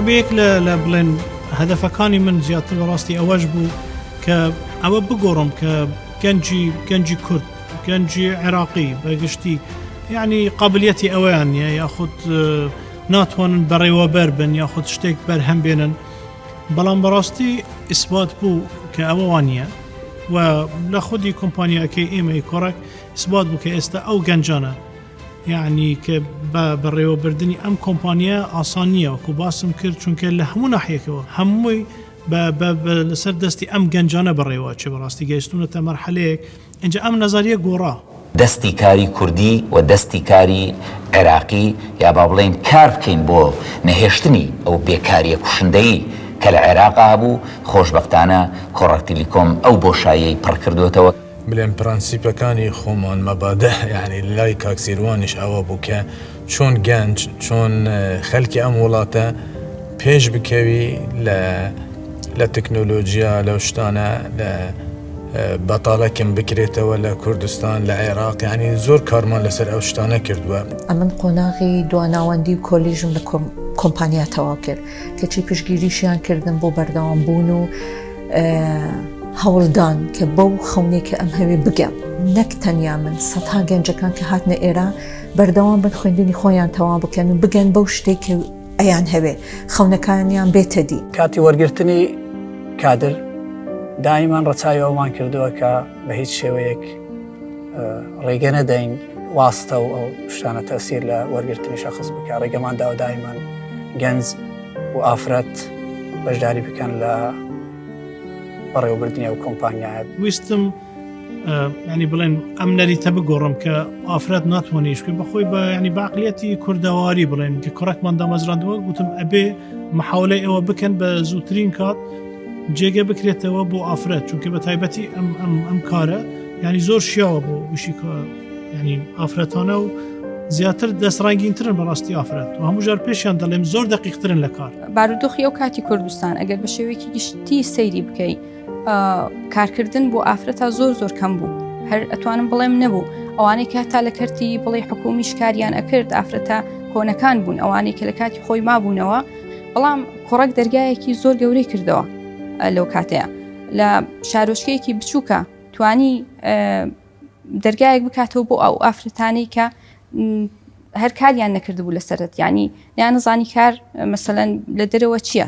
بەیەک لە بڵێن هەدەفەکانی من زیاتر بەڕاستی ئەوەش بوو کە ئەوە بگۆڕم کە گەنجی گەنجی کورد گەنجی عێراقی بەگشتی یعنی قابلیەتی ئەویان نیە یاخود ناتوانن بەڕێوەبەر بن یاخود شتێک بەرهەم بێنن بەڵام بەڕاستی ئیسبات بوو کە ئەوە وانە و لە خودی کۆمپانیاکەی ئێمەی کۆڕک ئیسبات بوو کە ئێستا ئەو گەنجانە یعنی کە بە بەڕێوەبردننی ئەم کۆمپانیا ئاسان نییە وەکو باسم کرد چونکە لە هەموو ناحیەکەەوە هەمووی لەسەر دەستی ئەم گەنجانە بەڕێوە چێ بەڕاستی گەیشتونەتە مەرحەلەیەک ئینجا ئەم نەزەریە گۆڕا. دەستی کاری کوردی و دەستی کاری عێراقی یا با بڵێین کار بکەین بۆ نەهێشتنی ئەو بێکاریە کوشندەی کە لە عێراقا هەبوو، خۆشبەختانە کۆڕەک تیلیکۆم ئەو بۆشاییەی پڕ کردۆتەوە. بلێن پرەنسیپەکانی خۆمان مەبادئ یانی لای کاک سیروانیش ئەوە بوو کە. چۆن گەنج چۆن خەلکی ئەم وڵاتە پێش بکەوی لە لە تەکنۆلۆژیا لەو شتانە لە بەتاڵەکم بکرێتەوە لە کوردستان لە عێراق ینی زۆر کارمان لەسەر ئەو شتانە کردووە ئەمن قۆناغی دواناوەندی و کۆلیژم لە کۆمپانیا تەوا کرد کەچی پشگیریشیان کردن بۆ بەردەوام بوون و هەوڵدان کە بەو خەونێکە ئەم هەوێ بگەم نەک تەنیا من سەها گەنجەکان کە هاتنە ئێرە بەردەوام بن خوێندنی خۆیان تەواو بکەن و بگەن بەو شتێک کە ئەیان هەوێ خەونەکانیان بێتە دی کاتی وەرگرتنی کادر دایمان ڕەچوی ئەومان کردووە کە بە هیچ شێوەیەک ڕێگە نەدەین واستە و ئەو شتانە تەسیر لە وەرگرتنی شخص بکە ڕێگەمان داوە دایمان گەنج و ئافرەت بەشداری بکەن لە بەڕێوەبردننی و کۆمپانیایەت ویستم ینی بڵێن ئەم نەریتە بگۆڕم کە ئافرەت ناتوانێشکرد بەخۆی بە ینی باقلەتی کوردەواری بڵێن کە کوڕکمان دامەزراندووە گوتم ئەبێ مححاولەی ئەوە بکەن بە زووترین کات جێگە بکرێتەوە بۆ ئافرەت چونکە بە تایبەتی ئەم ئەم ئەم کارە ینی زۆر شیاوە بۆ وشی ینی ئافرەتانە و زیاتر دەستڕنگینترن بەڕاستی ئافرەت و هەموو ژار پێشیان دەڵێم زۆر دەقیقترن لە کار بارودۆخی ئەو کاتی کوردستان ئەگەر بە شێوەیەکی گشتی سەیری بکەیت کارکردن بۆ ئافرە تا زۆر زۆر کەم بوو هەر ئەتوانم بڵێم نەبوو ئەوانەی کە تا لە کەرتی بڵێ حکومی شکاریان ئەکرد ئافرەتە کۆنەکان بوون ئەوانەی کە لە کاتی خۆی مابوونەوە بەڵام کوڕک دەرگایەکی زۆر گەورەی کردەوە لەو کاتەیە لە شارۆچکەیەکی بچووکە توانی دەرگایەک بکاتەوە بۆ ئەو ئافرەتانی کە هەر کاریان نەکردبوو لە سەرەت ینی یان نزانی کار مەسەەن لە دەرەوە چییە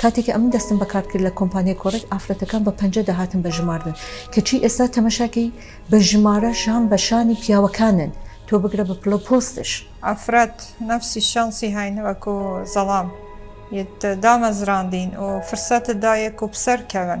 کاتێک ئەمن دەستم بەکارد کرد لە کۆمپانیای کۆرەک ئافرەتەکان بە پەنجە دەهاتن بە ژماردن کەچی ئێستا تەمەشاکەی بە ژمارە شان بە شانی پیاوەکانن تۆ بگرە بە پلە و پۆستش. ئافرەت نەفسی شانسی هەین وەکو زەڵام یت دامەزراندین و فرسەت دایێ کوو پسەر کەون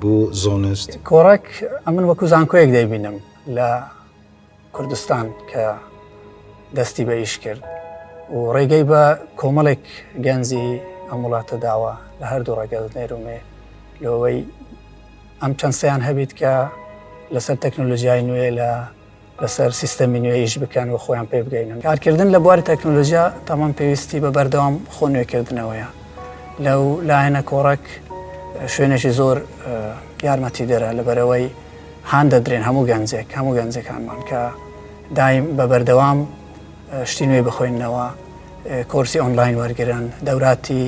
بۆ زۆنست کۆڕەک ئەمن وەکو زانکۆیەک دەیبینم لە کوردستان کە دەستی بە ئیش کرد و ڕێگەی بە کۆمەڵێک گەنجی ئەم وڵاتە داوە لە هەردوو ڕێگەز نێرومێ لەوەی ئەم چەند سیان هەبیت کە لەسەر تەکنۆلۆژیای نوێ لە لەسەر سیستەمی نوێ ئیش بکەن و خۆیان پێ بگەینن کارکردن لە بواری تەکنۆلۆژیا تەمان پێویستی بە بەردەوام خۆ نوێکردنەوەیە لەو لایەنە کۆڕەک شوێنێکی زۆر یارمەتی دەرە لە بەرەوەی هاان دەدرێن هەموو گەنجێک هەموو گەنجەکانمان کە دایم بە بەردەوام شتی نوێی بخۆێنەوە کۆرسی ئۆنلاین وەرگن دەوراتی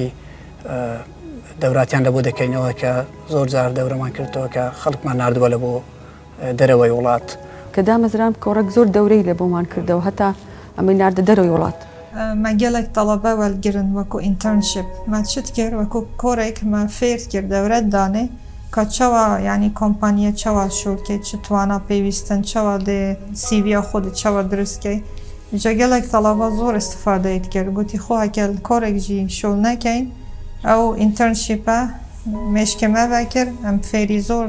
دەوراتیان لە بۆ دەکەینەوە کە زۆر جار دەورەمان کردەوە کە خەڵکمان نردووە لە بۆ دەرەوەی وڵات. کە دامەزرام کۆڕەک زۆر دەورەی لە بۆمان کردەوە هەتا ئەمەی ناردە دەرەوەی وڵات. مە گەلەک تەڵەبە وەل گرن وەکوو ئینتەرنشیپ مە چت کرد وەکوو کۆڕێک مە فێرت کرد دەورەت دانێ کە چەوا یانی کۆمپانیە چەوا شوول کەی چ توانا پێویستن چەوا دێ سیڤیا خۆدت چەوا دروست کەی جە گەلەک تەڵەبە زۆر ئستفادەیت کرد گوتی خۆ ئەکەل کۆڕێک ژی شوول نەکەین ئەو ئینتەرنشیپە مێشکێ مە ڤە کر م فێری زۆر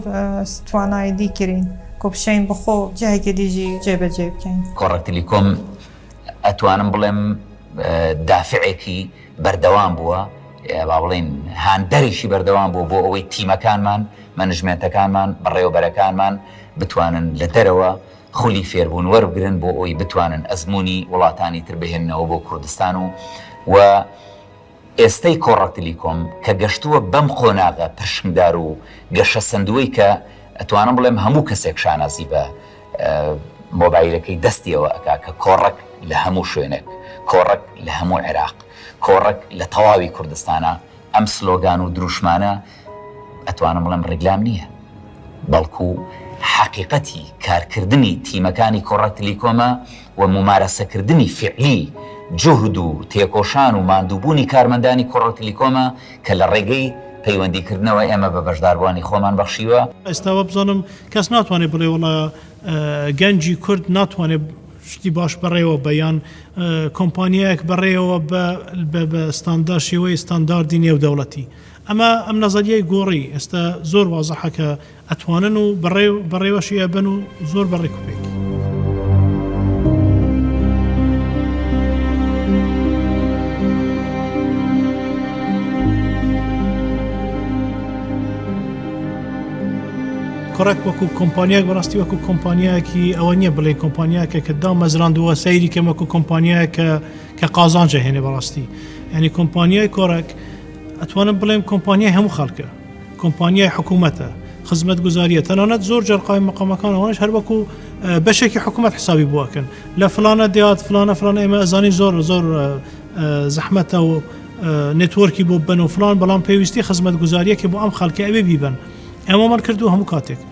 س توانای دی کرین کو بشێین بە خۆ جهێکێ دی ژی جێ بە جێ بکەین. کۆڕەکتلی کۆم ئەتوانم بڵێم دافعێکی بەردەوام بووە با بڵێین هاندەرێکی بەردەوام بووە بۆ ئەوەی تیمەکانمان مەنجمێنتەکانمان بەڕێوەبەرەکانمان بتوانن لە دەرەوە خولی فێربوون وەربگرن بۆ ئەوەی بتوانن ئەزموونی وڵاتانی تر بهێننەوە بۆ کوردستان و و ئێستەی کۆڕە تلیکۆم کە گەشتووە بەم قۆناغە پرشنگدار و گەشەسەندووەی کە ئەتوانم بڵێم هەموو کەسێک شانازی بە مۆبایلەکەی دەستیەوە ئەکا کە کۆڕەک لە هەموو شوێنێک، کۆڕەک لە هەموو عێراق، کۆڕەک لە تەواوی کوردستانە، ئەم سلۆگان و دروشمانە ئەتوانم بڵێم ڕیکلام نییە، بەڵکو حەقیقەتی کارکردنی تیمەکانی کۆڕە تلیکۆمە و مومارەسەکردنی فیعلی جوهد و تێکۆشان و ماندووبوونی کارمەندانی کۆڕە تلیکۆمە کە لە ڕێگەی پەیوەندیکردنەوە ئێمە بە بەشداربووانی خۆمان بەخشیوە. ئێستا وابزانم کەس ناتوانێت بڵێ وەڵا گەنجی کورد ناتوانێت شتی باش بەڕێوە بە یان کۆمپانیایەک بەڕێوە بە بە ستاندار شێوەی ستانداردی نێودەوڵەتی. ئەمە ئەم نەزەریەی گۆڕی ئێستا زۆر وازحە کە ئەتوانن و بەڕێو بەڕێوەشی ئەبەن و زۆر بە ڕێک و پێکی. کۆڕەک وەکو کۆمپانیایەک بەڕاستی وەکو کۆمپانیایەکی ئەوە نییە بڵێ کۆمپانیاکە کە دامەزراندووە سەیری کەمەکو کۆمپانیایە کە کە قازانجە هێنێ بەڕاستی ینی کۆمپانیای کۆڕەک ئەتوانم بڵێم کۆمپانیای هەموو خەڵکە کۆمپانیای حکوومەتە خزمەت گوزاریە تەنانەت زۆر جەرقاوی مقامەکان ئەوانش هەروەکو بەشێکی حکوومەت حسابی بووکن لە فلانە دیات فلانە فلانە ئێمە ئەزانی زۆر زۆر زەحمەتە و نتۆرکی بۆ بن و فلان بەڵام پێویستی خزمەت گوزاریەکی بۆ ئەم خەڵکە ئەوێ بیبن ئەمەمان کردو هەموو کاتێک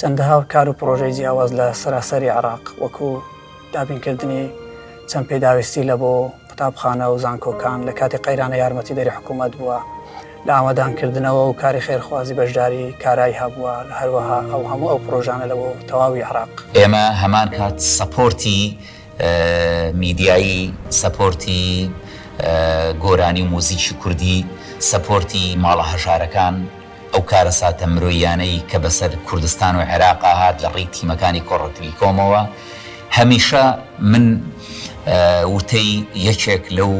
چەندەها کار و پڕۆژەی جیاواز لە سەراسەری عێراق وەکو دابینکردنی چەند پێداویستی لە بۆ قوتابخانە و زانکۆکان لە کاتی قەیرانە یارمەتیدەری حکوومەت بووە لە ئاوەدانکردنەوە و کاری خێرخوازی بەشداری کارای هەبووە هەروەها ئەو هەموو ئەو پڕۆژانە لە بۆ تەواوی عێراق. ئێمە هەمان کات سەپۆرتی میدیایی، سەپۆرتی گۆرانی و موزیکی کوردی، سەپۆرتی ماڵە هەژارەکان، ئەو کارەساتە مرۆییانەی کە بەسەر کوردستان و عێراقا هات لە ڕێی تیمەکانی کۆڕەکتری کۆمەوە، هەمیشە من وتەی یەکێک لەو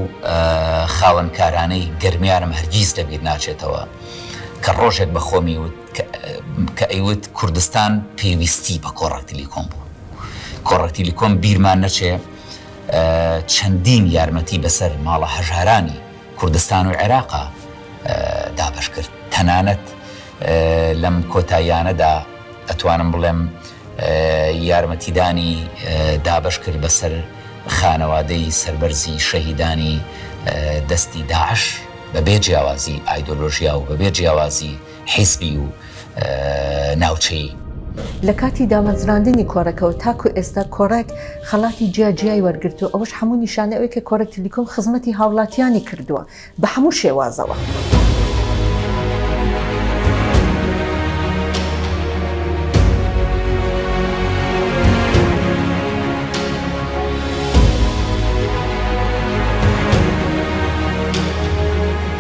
خاوەن کارانەی گەرمیانم هەرگیز لە بیر ناچێتەوە کە ڕۆژێک بە خۆمی وت کە ئەیوت کوردستان پێویستی بە کۆڕەکتری کۆم بوو کۆڕەکتری کۆم بیرمان نەچێ چەندین یارمەتی بەسەر ماڵە هەژارانی کوردستان و عێراقا دابەش کرد تەنانەت لەم کۆتاییانەدا ئەتوانم بڵێم یارمەتیدانی دابەش کرد بەسەر خانەوادەی سەربەرزی شەهیدانی دەستی داعش بەبێ جیاوازی ئایدۆلۆژیا و بەبێ جیاوازی حیزبی و ناوچەیی. لە کاتی دامەزراندنی کۆڕەکەوە تاکو ئێستا کۆڕەک خەڵاتی جیا جیای وەرگرتوە، ئەوەش هەموو نیشانەی ئەوەی کە کۆڕەک تلیکۆم خزمەتی هاوڵاتیانی کردوە بە هەموو شێوازەوە.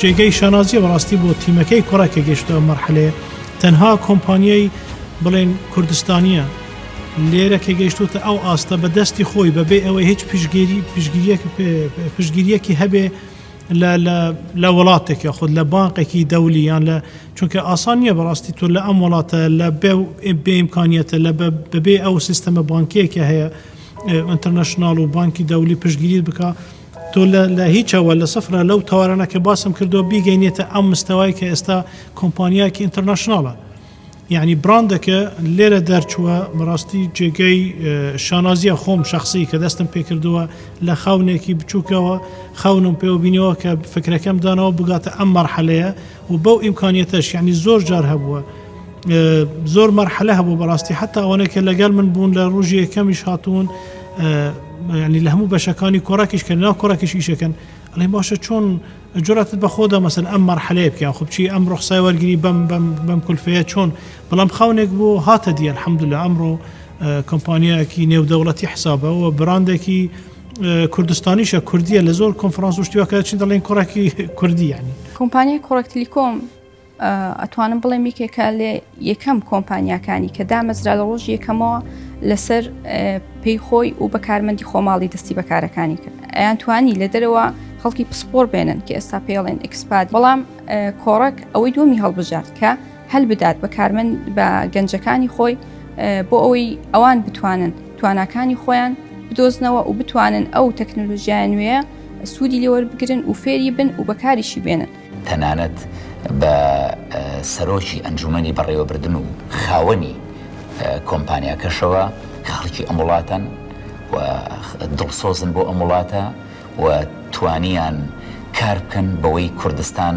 جێگەی شانازیە بەڕاستی بۆ تیمەکەی کوڕە کە گەشتە مەرحلەیە تەنها کۆمپانیای بڵێن کوردستانیە لێرە کە گەشتوتە ئەو ئاستە بە دەستی خۆی بەبێ ئەوەی هیچ پشگیری پشگیریەکی هەبێ لە وڵاتێکە خود لە بانقێکی دەولیان لە چونکە ئاسان نییە بەڕاستی تۆ لە ئەم وڵاتە لە بێ ئیمکانیەتە لە بەبێ ئەو سیستەمە بانکیەکە هەیە ئینتەرنەشناڵ و بانکی دەولی پشتگیریت بکا تۆ لە هیچەوە لە سفرە لەو تەوارانە کە باسم کردو بیگەینێتە ئەم مستەوای کە ئێستا کۆمپانیایکی ئینتەرنەشناڵە یعنی براندەکە لێرە دەرچووە بەڕاستی جێگەی شانازیە خۆم شخصی کە دەستم پێکردووە لە خاونێکی بچووکەوە خاونم پێوە بینەوە کە فکرەکەم دانەوە بگاتە ئەم مەرحەلەیە و بەو ئیمکانیەتەش یعنی زۆر جار هەبووە زۆر مەرحەلە هەبوو بەڕاستی حتا ئەوانەیە کە لەگەل من بوون لە ڕژی یەکەمیش هاتوون ینی لە هەموو بەشەکانی کۆراکیش کە ناو کۆراکیش ئیشەکەن ئەڵێ باشە چۆن جراتت بەخۆدا مەسن ئەم مەرحەلەیە بکە خبچی ئەم ڕخسای وەرگری بەم بەم بەم کولفەیە چۆن بەڵام خاونێک بۆ هاتە دیە حەمدلە ئەمڕۆ کۆمپانیایەکی نێودەوڵەتی حسابەوە براندێکی کوردستانیشە کوردیە لە زۆر کۆنفرانس و شتیواکە چی دەڵێن کوڕێکی کوردی ینی کۆمپانیای کوڕک تلیکۆم ئەتوانم بڵێم یکێکە لێ یەکەم کۆمپانیاکانی کە دامەزرا لە ڕۆژ یەکەمەوە لەسەر پێی خۆی و بەکارمەندی خۆماڵی دەستی بەکارەکانی کرد ئەیان توانی لە دەرەوە خەڵکی پسپۆر بێنن کە ئێستا پێڵێن ئەکسپات بەڵام کۆڕک ئەوەی دومی هەڵبژارد کە هەلبدات بە کارمەند بە گەنجەکانی خۆی بۆ ئەوەی ئەوان بتوانن تواناکانی خۆیان بدۆزنەوە و بتوانن ئەو تەکنەلۆژیای نوێە سوودی لێوەربگرن و فێری بن و بەکاریشی بێنن تەنانەت بە سەرۆکی ئەنجومەنی بەڕێوەبردن و خاوەنی کۆمپانیاکەشەوە کە خەڵکی ئەم وڵاتەن و دڵسۆزن بۆ ئەم وڵاتە و توانیان کار بکەن بەوەی کوردستان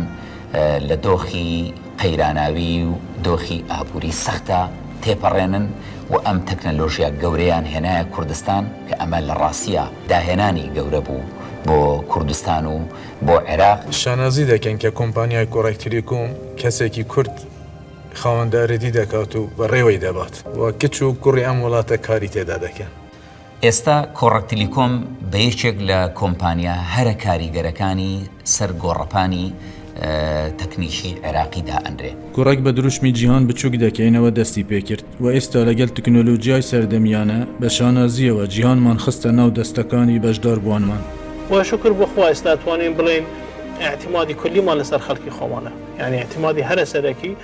لە دۆخی قەیراناویی و دۆخی ئابووری سەختدا تێپەڕێنن و ئەم تەکنەلۆژیا گەورەیان هێنایە کوردستان کە ئەمە لە ڕاستیا داهێنانی گەورە بوو بۆ کوردستان و بۆ عێراق. شانازی دەکەین کە کۆمپانیای کۆڕێک تیلیکۆم کەسێکی کورد خاوەندارێتی دەکات و بەڕێوەی دەبات و کچ و کوڕی ئەم وڵاتە کاری تێدا دەکەن. ئێستا کۆڕەک تلیکۆم بە یەکێک لە کۆمپانیا هەرە کاریگەرەکانی سەر گۆڕەپانی تەکنیکی عێراقی دائەنرێ. کۆڕەک بە دروشمی جیهان بچووک دەکەینەوە دەستی پێکرد و ئێستا لەگەڵ تەکنۆلۆجیای سەردەمیانە بە شانازییەوە جیهانمان خستە ناو دەستەکانی بەشداربووانمان. و شوکر بۆ خوا ئێستا توانین بڵێین ئیعتیمادی کولیمان لەسەر خەڵکی خۆمانە یانی ئیعتیمادی هەرە سەرەکی،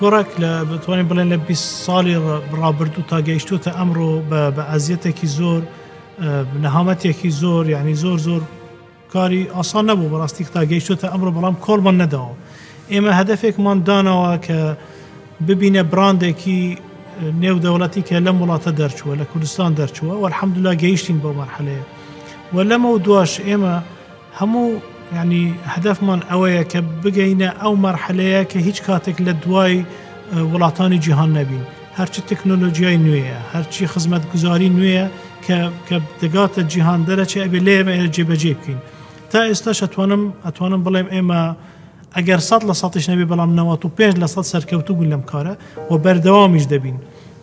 گۆڕک لە بتوانین بڵێن لە 20 ساڵی ڕابردوو تا گەیشتوتە ئەمڕۆ بە ئازیەتێکی زۆر نەهامەتێکی زۆر یعنی زۆر زۆر کاری ئاسان نەبوو بەڕاستی تا گەیشتوتە ئەمڕۆ بەڵام کۆڵمان نەداوە ئێمە هەدفێکمان داناوە کە ببینە براندێکی نێو دەوڵەتی کە لەم وڵاتە دەرچووە لە کوردستان دەرچووە وەرحەمدلا گەیشتین بۆ مەرحەلەیە و لەمە و دواش ئێمە هەموو یانی هەدەفمان ئەوەیە کە بگەینە ئەو مەرحەلەیە کە هیچ کاتێک لە دوای وڵاتانی جیهان نەبین هەرچی تەکنۆلۆژیای نوێیە هەرچی خزمەتگوزاری نوێیە کە کە دەگاتە جیهان دەرەچێ ئەبێ لێمە جێبەجێ بکەین تا ئێستاش ئەتوانم ئەتوانم بڵێم ئێمە ئەگەر سەد لە سەتیش نەبێ بەڵام نەوە و پێنج لە سەد سەرکەوتوو بوون لەم کارە و بەردەوامیش دەبین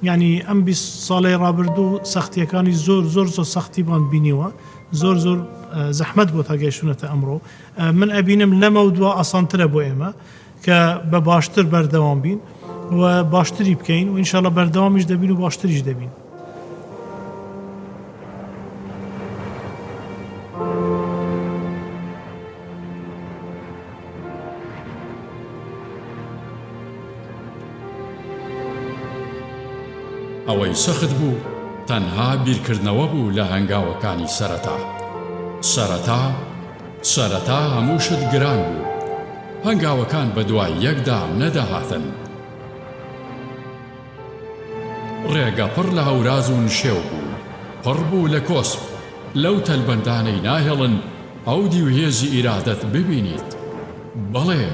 یعنی ئەم بیست ساڵی ڕابردوو سەختیەکانی زۆر زۆر زۆر سەختی بان بینیوە زۆر زۆر زەحمەت بۆ تا گەیشتونەتە ئەمڕۆ من ئەبینم لەمە و دوا ئاسانترە بۆ ئێمە کە بە باشتر بەردەوام بین و باشتری بکەین و ئینشاالله بەردەوامیش دەبین و باشتریش دەبین ئەوەی سەخت بوو تەنها بیرکردنەوە بوو لە هەنگاوەکانی سەرەتا. سەرەتا سەرەتا هەموو شت گران بوو. هەنگاوەکان بەدوای یەکدا نەدەهاتن. ڕێگە پڕ لە هەوراز و نشێو بوو، پڕ بوو لە کۆسپ، لەو تەلبەندانەی ناهێڵن ئەو دیو هێزی ئیرادەت ببینیت. بەڵێ،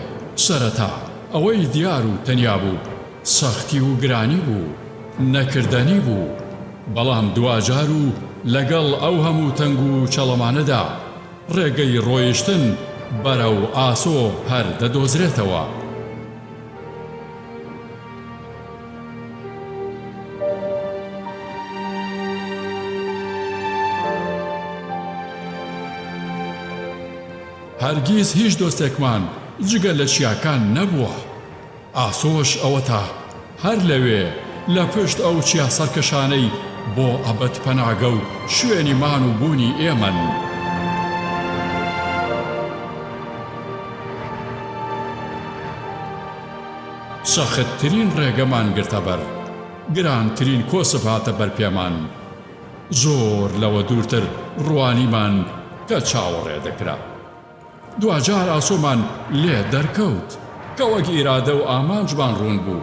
سەرەتا ئەوەی دیار و تەنیا بوو سەختی و گرانی بوو، نەکردەنی بوو، بەڵام دواجار و لەگەڵ ئەو هەموو تەنگ و چەڵەمانەدا، ڕێگەی ڕۆیشتن بەرەو ئاسۆ هەر دەدۆزرێتەوە. هەرگیز هیچ دۆستێکمان جگە لە چیاکان نەبووە. ئاسۆش ئەوەتا هەر لەوێ لە پشت ئەو چیا سەرکەشانەی بۆ ئەبەد پەناگە و شوێنی مان و بوونی ئێمەن. سەختترین ڕێگەمان گرتە بەر گرانترین کۆسپ هاتە بەر پێمان زۆر لەوە دوورتر ڕوانیمان کە چاوەڕێ دەکرا دواجار ئاسۆمان لێ دەرکەوت کە وەک ئیرادە و ئامانجمان ڕوون بوو.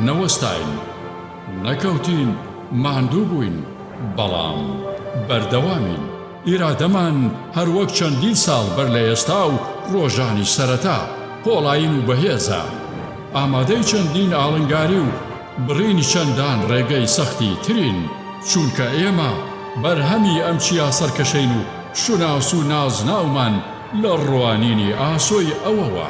نەوەستاین، نەکەوتین، ماندوو بووین، بەڵام بەردەوامین. ئیرادەمان هەروەک چەندین ساڵ بەر لە ئێستا و ڕۆژانی سەرەتا پۆڵایین و بەهێزە، ئامادەی چەندین ئاڵنگاری و بڕینی چەندان ڕێگەی سەختی ترین، چونکە ئێمە بەرهەمی ئەم چیا سەرکەشەین و شوناس و نازناومان لە ڕوانینی ئاسۆی ئەوەوە.